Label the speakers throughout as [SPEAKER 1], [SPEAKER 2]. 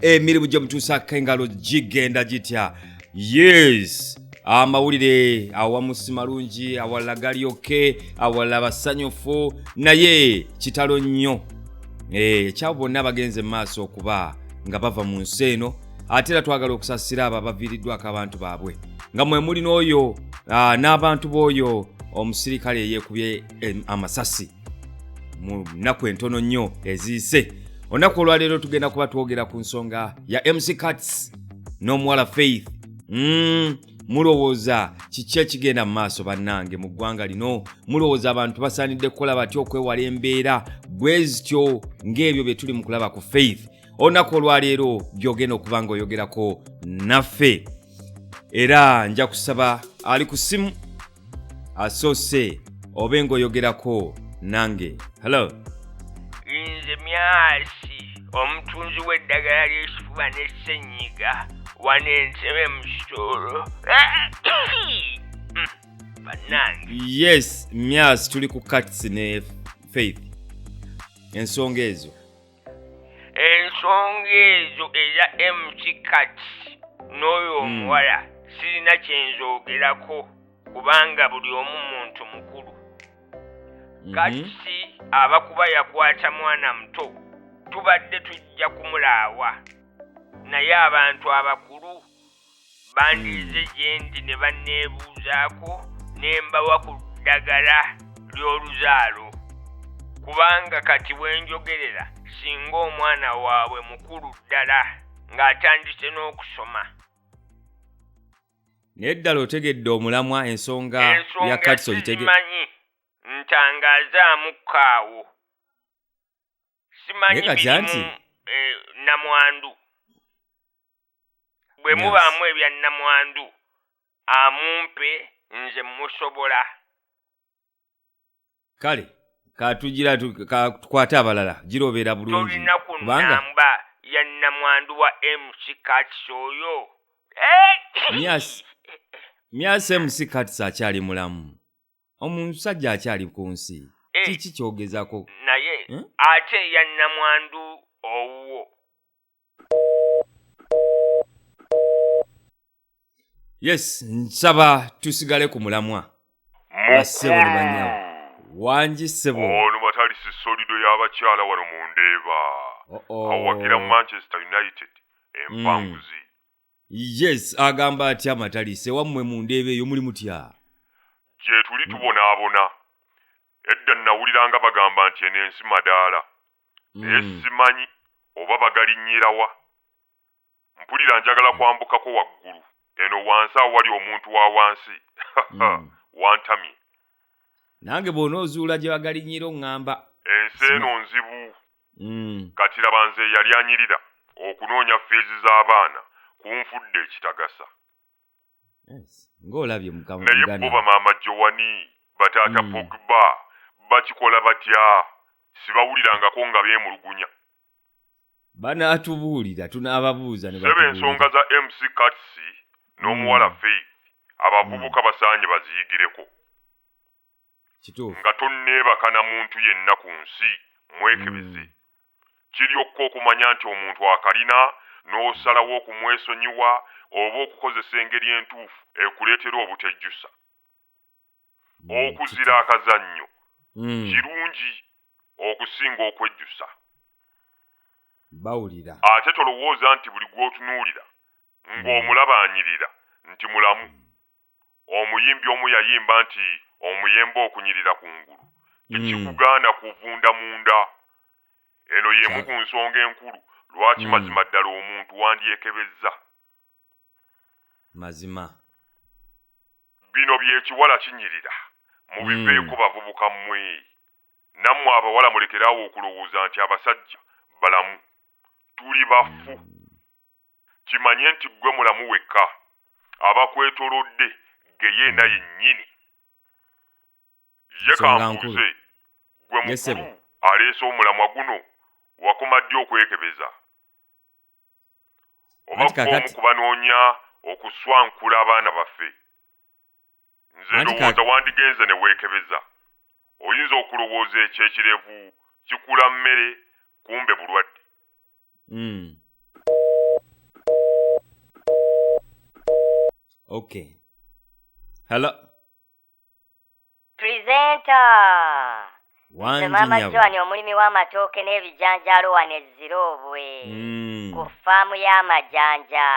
[SPEAKER 1] emirimu gyo mutuusaako engalo gigenda gitya yes amawulire awamu si malungi awalala gali oke awalala basanyufu naye kitalo nnyo eh, ekyabo bonna bagenze mu maaso okuba nga bava mu nsi eno ate era twagala okusasira abo abaviiriddwako abantu baabwe nga mwe muli n'oyo ah, n'abantu b'oyo omusirikale eyeekubye amasasi mu nnaku entono nnyo eziyise olunaku olwaleero tugenda kuba twogera ku nsonga ya mc cats n'omuwala faith mm, mulowooza kiki ekigenda mu maaso bannange mu ggwanga lino mulowooza abantu basaanidde kukola batya okwewala embeera bwe zityo ng'ebyo bye tuli mu kulaba ku faith olunaku olwaleero byogenda okuba ng'oyogerako naffe era nja kusaba ali ku simu asoose obe ng'oyogerako nange hello
[SPEAKER 2] nze myasi omutunzi w'eddagala ly'ekifuba n'essenyiga wano entebe mu kitolo banange yes
[SPEAKER 1] myasi tuli ku cats ne faith ensonga ezo ensonga
[SPEAKER 2] ezo eya mckat n'oyo hmm. omuwala sirina kyenzoogerako kubanga buli omu muntu mukulu mhm. kati aba kuba yakwata mwana muto tubadde tujja kumulaawa naye abantu abakulu bandiize gyendi ne banneebuuzaako ne mbawa ku ddagala ly'oluzaalo kubanga kati bwenjogerera singa omwana waabwe mukulu ddala ng'atandise n'okusoma
[SPEAKER 1] naye ddala otegedde omulamwa ensonga ya katso gitege manyi
[SPEAKER 2] ntangaazaamu kaawo simanyi Naye kati birimu anti- eh, namwandu bwe Yes. mubaamu ebya namwandu amumpe nze musobola
[SPEAKER 1] kale katugira tu- ka- tukwate abalala girobeera bulungi tolina ku kubanga namba
[SPEAKER 2] ya namwandu wa mc kats oyo Eh!
[SPEAKER 1] myasi myasi mc kats akyali mulamu omusajja akyali ku nsi eh. kiki kyogezako naye eh?
[SPEAKER 2] ate yannamwandu owuwo
[SPEAKER 1] yes nsaba tusigale ku mulamwa basebo ne banyawo wangi sebo ono batali
[SPEAKER 3] sisolido y'abakyala wano mu ndeeba awagira manchester united empanguzi mm.
[SPEAKER 1] yes agamba atya amatalise wammwe mu ndeeba eyo muli mutya gye
[SPEAKER 3] tuli tubonaabona edda nnawuliranga bagamba nti eno ensi madaala naye Mm. simanyi oba bagalinnyirawa mpulira njagala kwambukako waggulu eno wansi awali omuntu wa wansi Mm. wantamye
[SPEAKER 1] nange bw'onoozuula gye bagalinyira oŋŋamba ensi eno
[SPEAKER 3] nzibu mm. kati laba nze eyali anyirira okunoonya fiizi z'abaana kunfudde ekitagasa
[SPEAKER 1] ng'olabye mukama naye bo bamaama
[SPEAKER 3] jowani bataata mm. pogba bakikola batya sibawulirangako nga beemulugunya banaatubuulira
[SPEAKER 1] tunaababuuza sebe ensonga za mc
[SPEAKER 3] cats n'omuwala mm. faith abavubuka basaanye baziyigireko
[SPEAKER 1] nga tonneebaka
[SPEAKER 3] na muntu yenna ku nsi mwekebeze mm. kiryokka okumanya nti omuntu akalina n'osalawo okumwesonyiwa oba okukozesa engeri entuufu ekuleetera obutejjusa mm, okuzira akazannyo mm. kirungi okusinga okwejjusa
[SPEAKER 1] bawulira ate tolowooza nti
[SPEAKER 3] buli gw'otunuulira ng'omulaba anyirira nti mulamu. Omuyimbi omu yayimba nti omuyembe okunyirira ku ngulu tekikugaana kuvunda munda. Eno y'emu ku nsonga enkulu lwaki mazima ddala omuntu wandyekebezza.
[SPEAKER 1] Mazima.
[SPEAKER 3] Bino by'ekiwala kinyirira mubiveeko bavubuka mmwe. Nammwe abawala mulekere awo okulowooza nti abasajja balamu. Tuli bafu. kimanye nti ggwe mulamu wekka, abakwetolodde ggeyeena yennyini. Ye kambuuze, ggwe mukulu aleese omulamwa guno, wakoma ddi okwekebeza? Oba ggwe omu ku banoonya okuswankula abaana baffe? nze Anti ka- ndowooza wandigenze ne weekebeza oyinza okulowooza ekyo ekirevu kikula mmere kumbe bulwadde Mm.
[SPEAKER 1] Okay. Hello.
[SPEAKER 4] Presenter! nze maama joan omulimi
[SPEAKER 1] w'amatooke
[SPEAKER 4] n'ebijanjaalo wano ezziroobwe mm. ku faamu y'amajanja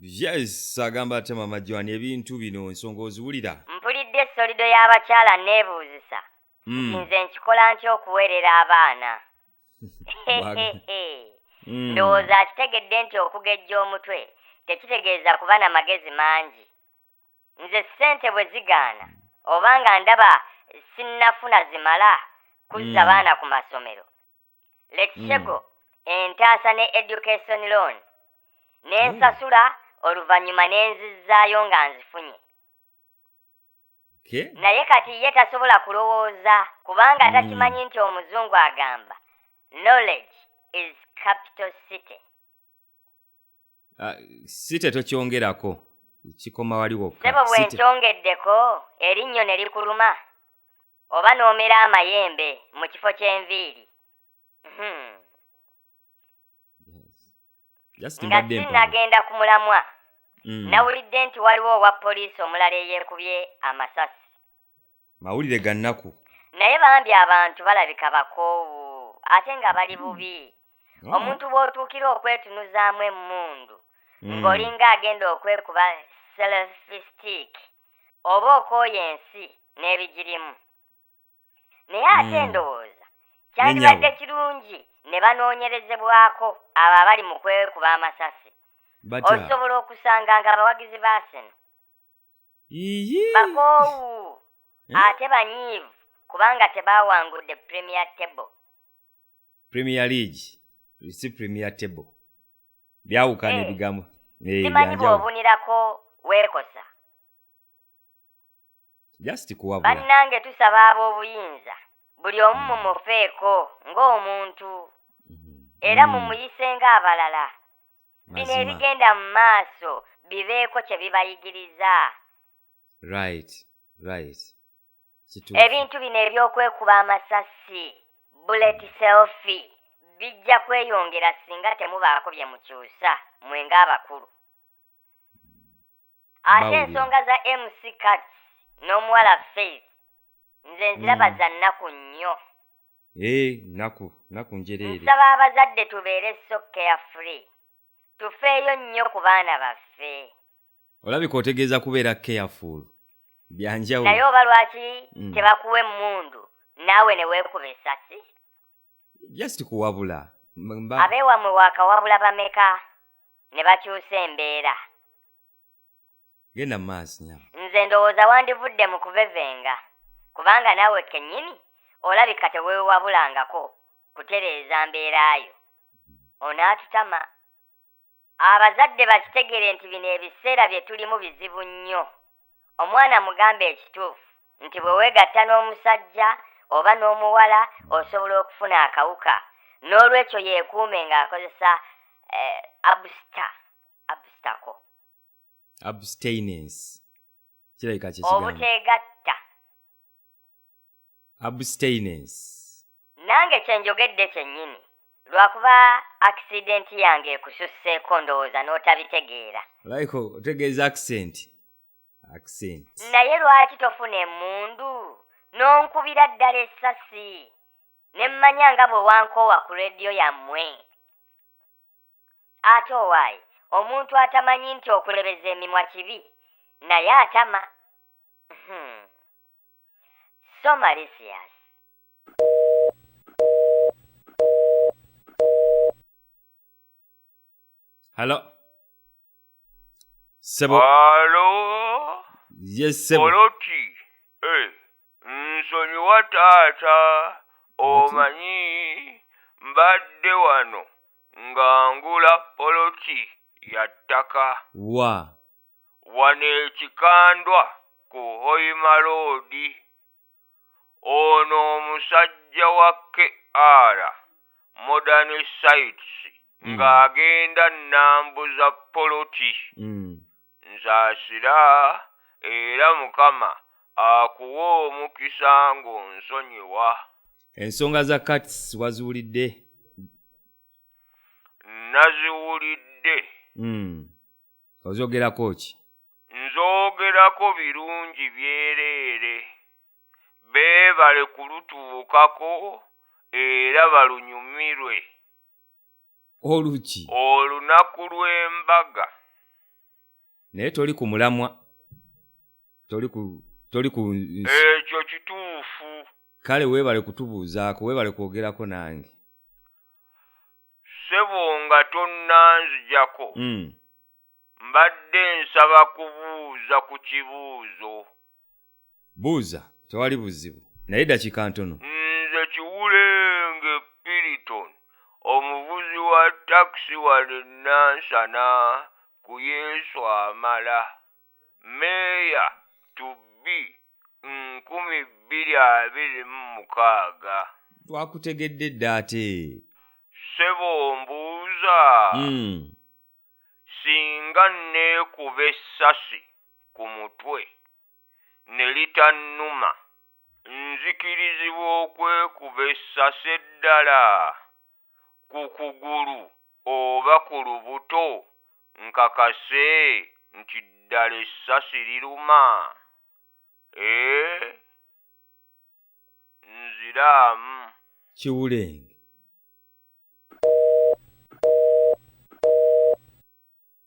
[SPEAKER 4] yes
[SPEAKER 1] agamba ate maama joan ebintu bino ensonga oziwulira mpulidde esolido
[SPEAKER 4] y'abakyala neebuuzisa mm. nze nkikola nti okuweerera abaana mm. ndowooza akitegedde nti okugejja omutwe tekitegeeza kuba na magezi mangi nze ssente bwe zigaana oba nga ndaba sinnafuna zimala kuzza mm. baana ku masomero lekisego mm. entaasa ne education loan ne mm. nsasula mm. oluvannyuma ne nzizzaayo nga nzifunye okay.
[SPEAKER 1] naye kati ye tasobola
[SPEAKER 4] kulowooza kubanga mm. takimanyi nti omuzungu agamba knowledge is capital city ah,
[SPEAKER 1] si tetokyongerako kikoma wali wokkasebo bwe nkyongeddeko
[SPEAKER 4] erinnyo ne likuluma oba n'omera amayembe mu kifo ky'enviiri hmm. nga sinnagenda ku mulamwa hmm. nawulidde nti waliwo owa poliisi omulala eyeekubye amasasi mawulire
[SPEAKER 1] ga nnaku naye bambi
[SPEAKER 4] abantu balabika bakoowu ate nga bali hmm. bubi oh. omuntu bw'otuukira okwetunuzaamu emmundu hmm. ng'olinga agenda okwekuba selfistic oba okooya ensi n'ebigirimu naye ate hmm. ndowooza kyandibadde kirungi ne banoonyerezebwako abo abali mu kwekuba amasasi osobola okusanga nga abawagizi ba seno bakoowu eh? ate banyiivu kubanga tebaawangudde premier table
[SPEAKER 1] premier league si premier table byawukana eh. ebigambo eh, simanyi
[SPEAKER 4] bw'obunirako weekosa
[SPEAKER 1] bannange tusaba
[SPEAKER 4] ab'obuyinza buli omu mm. mumufeeko ng'omuntu mm-hmm. era mm. mumuyise ng'abalala bino mazima ebigenda mu maaso bibeeko kye bibayigiriza
[SPEAKER 1] right right
[SPEAKER 4] kituufu ebintu bino ebyokwekuba amasasi bullet selfi bijja kweyongera singa temubaako bye mukyusa mwe ng'abakulu ate ensonga za mc cats n'omuwala faith nze nziraba mm. za nnaku nnyo ee eh, nnaku
[SPEAKER 1] nnaku njereere nsaba abazadde
[SPEAKER 4] tubeere so care free tufeeyo nnyo ku baana baffe olabika
[SPEAKER 1] otegeeza kubeera careful byanjawulo naye oba lwaki
[SPEAKER 4] mm. tebakuwa emmundu naawe ne weekuba esasi just
[SPEAKER 1] kuwabula abeewamwe
[SPEAKER 4] waakawabula bameka ne bakyusa embeera
[SPEAKER 1] genda mu maaso nyama nze ndowooza wandivudde
[SPEAKER 4] mu kuvevenga kubanga naawe kennyini olabika teweewabulangako kutereeza mbeera yo onaatutama Abazadde bakitegere nti bino ebiseera bye tulimu bizibu nnyo. Omwana mugambe ekituufu nti bwe weegatta n'omusajja oba n'omuwala osobola okufuna akawuka n'olwekyo yeekuume ng'akozesa eh, absta abstako. Abstainence.
[SPEAKER 1] Kirabika kye kigambo. Obuteegatta. abstainence nange
[SPEAKER 4] kyenjogedde kyennyini lwakuba accident yange ekususseeko ndowooza n'otabitegeera like
[SPEAKER 1] otegeeza accent accent
[SPEAKER 4] naye lwaki tofuna emundu n'onkubira ddala essasi ne mmanya nga bwe wankoowa ku rediyo yammwe Ate owaaye omuntu atamanyi nti okulebeza emimwa kibi naye atama. Hmm. So malicious.
[SPEAKER 1] Hello. sebo alo
[SPEAKER 2] yes sebo
[SPEAKER 1] oloti
[SPEAKER 2] eh, nsonyiwa taata omanyi mbadde wano nga ngula poloti ya ttaka wa wano ekikandwa ku hoima loodi ono omusajja wa KR Modern Sites mm. ng'agenda nnambuza poloti mm. nsaasira era mukama akuwa omukisa ng'onsonyiwa ensonga
[SPEAKER 1] za kats waziwulidde naziwulidde
[SPEAKER 2] mm.
[SPEAKER 1] ozogerako ki
[SPEAKER 2] nzogerako birungi byereere beebale kulutuukako era balunyumirwe
[SPEAKER 1] oluki olunaku
[SPEAKER 2] lw'embaga
[SPEAKER 1] naye toli ku mulamwa toli ku toli ku ekyo kituufu
[SPEAKER 2] kale weebale
[SPEAKER 1] kutubuuzaako weebale kwogerako nange
[SPEAKER 2] ssebo nga tonnanzijako mm. mbadde nsaba kubuuza ku kibuuzo
[SPEAKER 1] buuza tewali buzibu naye dakika ntono nze
[SPEAKER 2] kiwulenge piriton omuvuzi wa takisi wano enansana ku yesu amala Meeya to be nkumi bbiri abiri mu mukaaga. Twakutegedde
[SPEAKER 1] dda ate. Ssebo
[SPEAKER 2] mbuuza, hmm. singa nneekuba essasi ku mutwe ne litannuma, nzikirizibwa okwekuba essasi eddala? ku kugulu oba ku lubuto nkakase nti ddala essasi liruma? Eeh? Nziraamu. Kiwulenge.